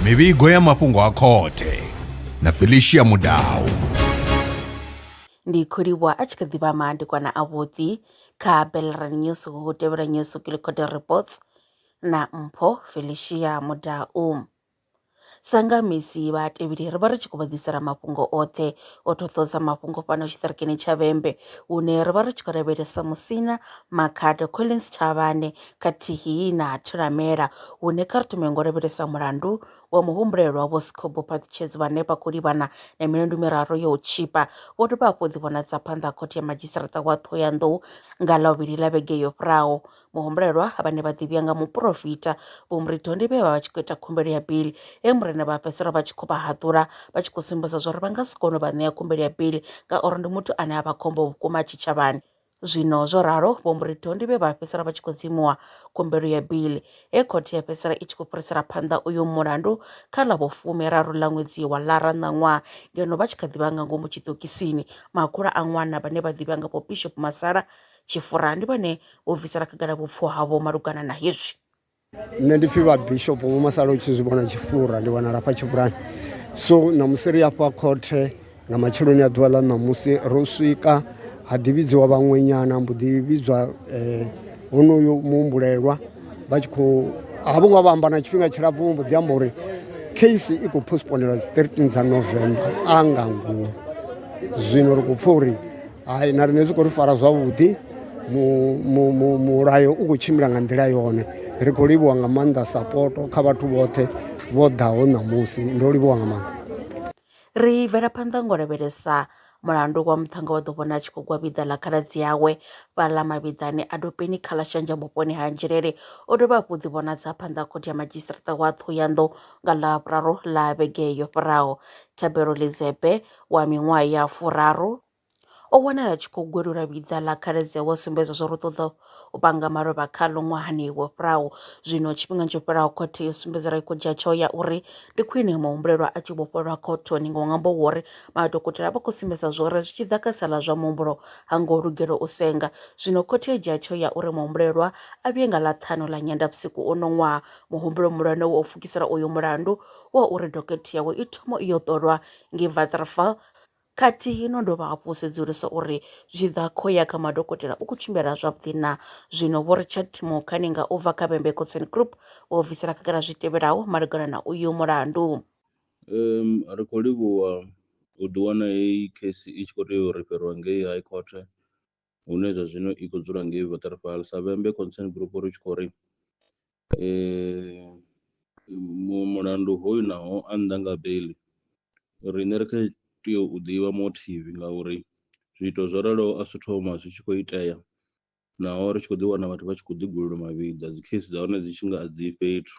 mivhigo ya mafhungo a khothe na felicia mudau ndi khou livhuwa a tshi kha ḓivha maandikwana a vhuḓi kha belran news hu tevhela news kilikhote reports na mpho felicia mudau Sa nga misi vhatevheli ri vha ri tshi khou vha ḓisela mafhungo oṱhe o ṱhoṱhodza mafhungo fhano tshiṱirikini tsha Vhembe hune ri vha ri tshi khou lavhelesa Musina, Makhado, Collins Thavhane khathihi na Thulamela hune kha ri thome ngo lavhelesa mulandu wa muhumbulelwa Vho Sikhobo Phaṱutshedzi vhane vha khou livhana na milandu miraru ya u tshipa vho dovha hafhu ḓivhonadza phanḓa ha khothe ya madzhisiṱaraṱa wa Ṱhohoyanḓou nga ḽa vhuvhili ḽa vhege yo fhiraho. Muhumbulelwa vhane vha ḓivhiya nga muporofita Vho Muridondi vhe vha vha tshi khou ita khumbelo ya bili he murena vha fhedzisela vha tshi khou vha haḓula vha tshi khou sumbedza zwauri vha nga si kone u vha ṋea khumbelo ya bili ngauri ndi muthu ane a vha khombo vhukuma tshitshavhani. Zwino zwo ralo Vho Muridondi vhe vha fhedzisela vha tshi khou dzimuwa khumbelo ya bili he khothe ya fhedzisela i tshi khou fhirisela phanḓa uyo mulandu kha ḽa vho fumiraru ḽa ṅwedzi wa ḽara ṋaṅwaha ngeno vha tshi kha ḓivha nga ngomu tshiṱokisini. Makhulu a ṅwana vhane vha ḓivhiwa nga Vho Bishop Masala Tshifura ndi vhone vho bvisela khagala vhupfo havho malugana na hezwi. Nṋe ndi pfhi vhabishopo vho masala u tshi zwi vhona Tshifura ndi wanala fha Tshifurani so ṋamusi ri afha khothe nga matsheloni a ḓuvha ḽa ṋamusi ro swika ha ḓi vhidziwa vhaṅwenyana mbo ḓi vhidzwa eh, honoyo muhumbulelwa vha tshi khou ha vho ngo vha amba na tshifhinga tshilapfu vho mbo ḓi amba uri case i khou postponelwa dzi 13 dza november a nga ngomu zwino ri khou pfha uri hai na riṋe zwi khou ri fara zwavhuḓi mulayo u khou tshimbila nga nḓila yone ri khou livhuwa nga maanḓa sapoto kha vhathu vhoṱhe vho ḓaho ṋamusi ndo livhuwa nga maanḓa ri bvela phanḓa ngo lavhelesa mulandu wa muṱhannga wa ḓo vhona a tshi khou gwa vhiḓa ḽa khaladzi yawe fhaḽa mavhiḓani a dopeni kha ḽa shanja vhuponi ha nzhelele o dovha hafhu ḓi vhonadza phanḓa khothe ya madzhisiṱiraṱa wa ṱhohoyanḓou nga ḽa vhuraru ḽa vhege yo fhiraho thabelo lizepe wa miṅwaha ya furaru o wanala a tshi khou gwelula vhiḓa ḽa khaladzi awe a sumbedza zwauri u ṱoḓa u panga malofha khaḽo ṅwahani wo fhiraho zwino tshifhingani tsho fhelaho khothe yo sumbedza ra i khou dzhia tsheo ya uri ndi khwine muhumbulelwa a tshi vhofholwa khothoni nga ṅwambo wo uri madokotela vha khou sumbedza zwori zwi tshi ḓa kha sala zwa muhumbulo ha ngo lugela u senga zwino khothe yo dzhia tsheo ya uri muhumbulelwa a vhuye nga ḽa ṱhanu ḽa nyendavhusiku uno ṅwaha muhumbulo muhulwane wo pfukisela uyo mulandu wa uri dokotela yawe i thoma iyo ṱolwa ngei Waterval khathihi no dovha hafhu u sedzulusa uri zwi tshi ḓa kho ya kha madokotela u khou tshimbila zwavhuḓi na zwino Vho Richard Timokhane nga u bva kha Bembe Concern Group vho bvisela khagala zwi tevhelaho malugana na uyu mulandu. Um, ri khou livhuwa u ḓiwana heyi case i tshi khou tea u rifheriwa ngei High Court hune zwa zwino i khou dzula ngei Waterval sa Vhembe Concern Group ri tshi khou ri mulandu hoyu naho a nnḓa nga beli riṋe ri kha tea u ḓivha motive ngauri zwiito zwo raloho a si thoma zwi tshi khou itea naho ri tshi khou ḓi wana vhathu vha tshi khou ḓigulula mavhiḓa dzi case dza hone dzi tshi nga a dzi fhethu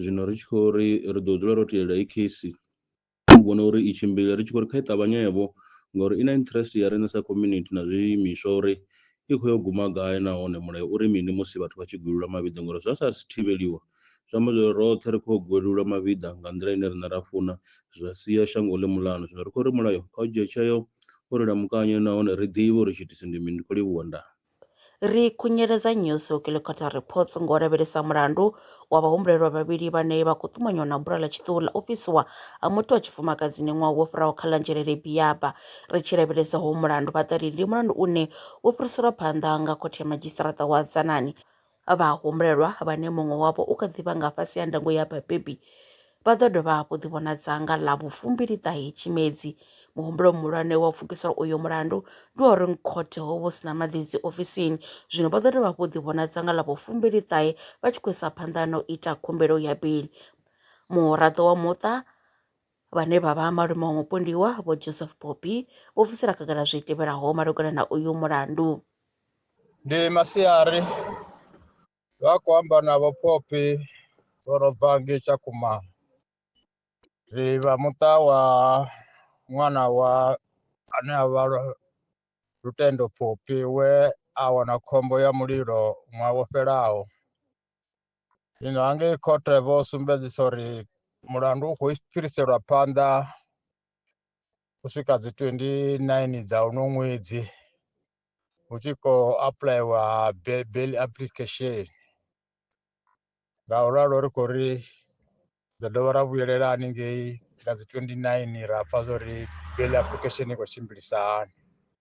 zwino ri tshi khou ri ri ḓo dzula ro telela i case Ndi vhona uri i tshimbile ri tshi khou ri kha i ṱavhanye vho ngori i na interest ya riṋe sa community na zwi imiswa uri i khou yo guma gai nahone mulayo uri mini musi vhathu vha tshi gwevheliwa mavhiḓa ngori zwa sa thivheliwa zwi amba zwori roṱhe ri kho gwevheliwa mavhiḓa nga nḓila ine riṋe ra funa zwa sia shango ḽi muḽanu. Zwino ri khou ri mulayo kha u dzhie tsheo uri lamukanye nahone ri ḓivhe uri tshiitisi ndi mini ndi kho livhuwa ndaa. Ri khunyeledza Nyusi u kiḽikhotha reports ngo lavhelesa mulandu wa vhahumbulelwa vhavhili vhane vha khou ṱumanywa na bula ḽa tshiṱuhu ḽa u fhisiwa ha muthu wa tshifumakadzini ṅwaha wo fhiraho kha ḽa Nzhelele Biyaba. Ri tshi lavhelesa hoyu mulandu, vha ḓari ndi mulandu une wo fhiriselwa phanḓa nga Khothe ya Madzhisiṱaraṱa wa Dzanani vhahumbulelwa vhane muṅwe wavho u kha ḓi vha nga fhasi ha ndango ya vhabebi vha ḓo dovha hafhu ḓivhonadza nga ḽa vhufumbiliṱahe Tshimedzi. Muhumbulo muhulwane wa u pfukisela uyo mulandu ndi wa uri khothe ho vha hu si na maḓidzi ofisini, zwino vha ḓo dovha hafhu ḓivhonadza nga ḽa vhufumbiliṱahe vha tshi khou isa phanḓa na u ita khumbelo ya beiḽi. Muraḓo wa muṱa vhane vha vha malume wa mupondiwa Vho Joseph Popi vho bvisela khagala zwi tevhelaho malugana na uyu mulandu. Ndi masiari vha khou amba na Vho Popi vho no bva ngei Tshakhuma ri vha muṱa wa ṅwana wa ane a vha Lutendo Popi we a wana khombo ya mulilo ṅwaha wo fhelaho zwino hangei khothe vho sumbedzisa uri mulandu u khou fhiriselwa phanḓa u swika dzi 29 dza uno ṅwedzi hu tshi khou apuḽaiwa bail application nga u ralo ri khou ri ḓo dovha ra vhuyelela haningei nga dzi 29 ra pfha zwa uri bail application i khou tshimbilisa hani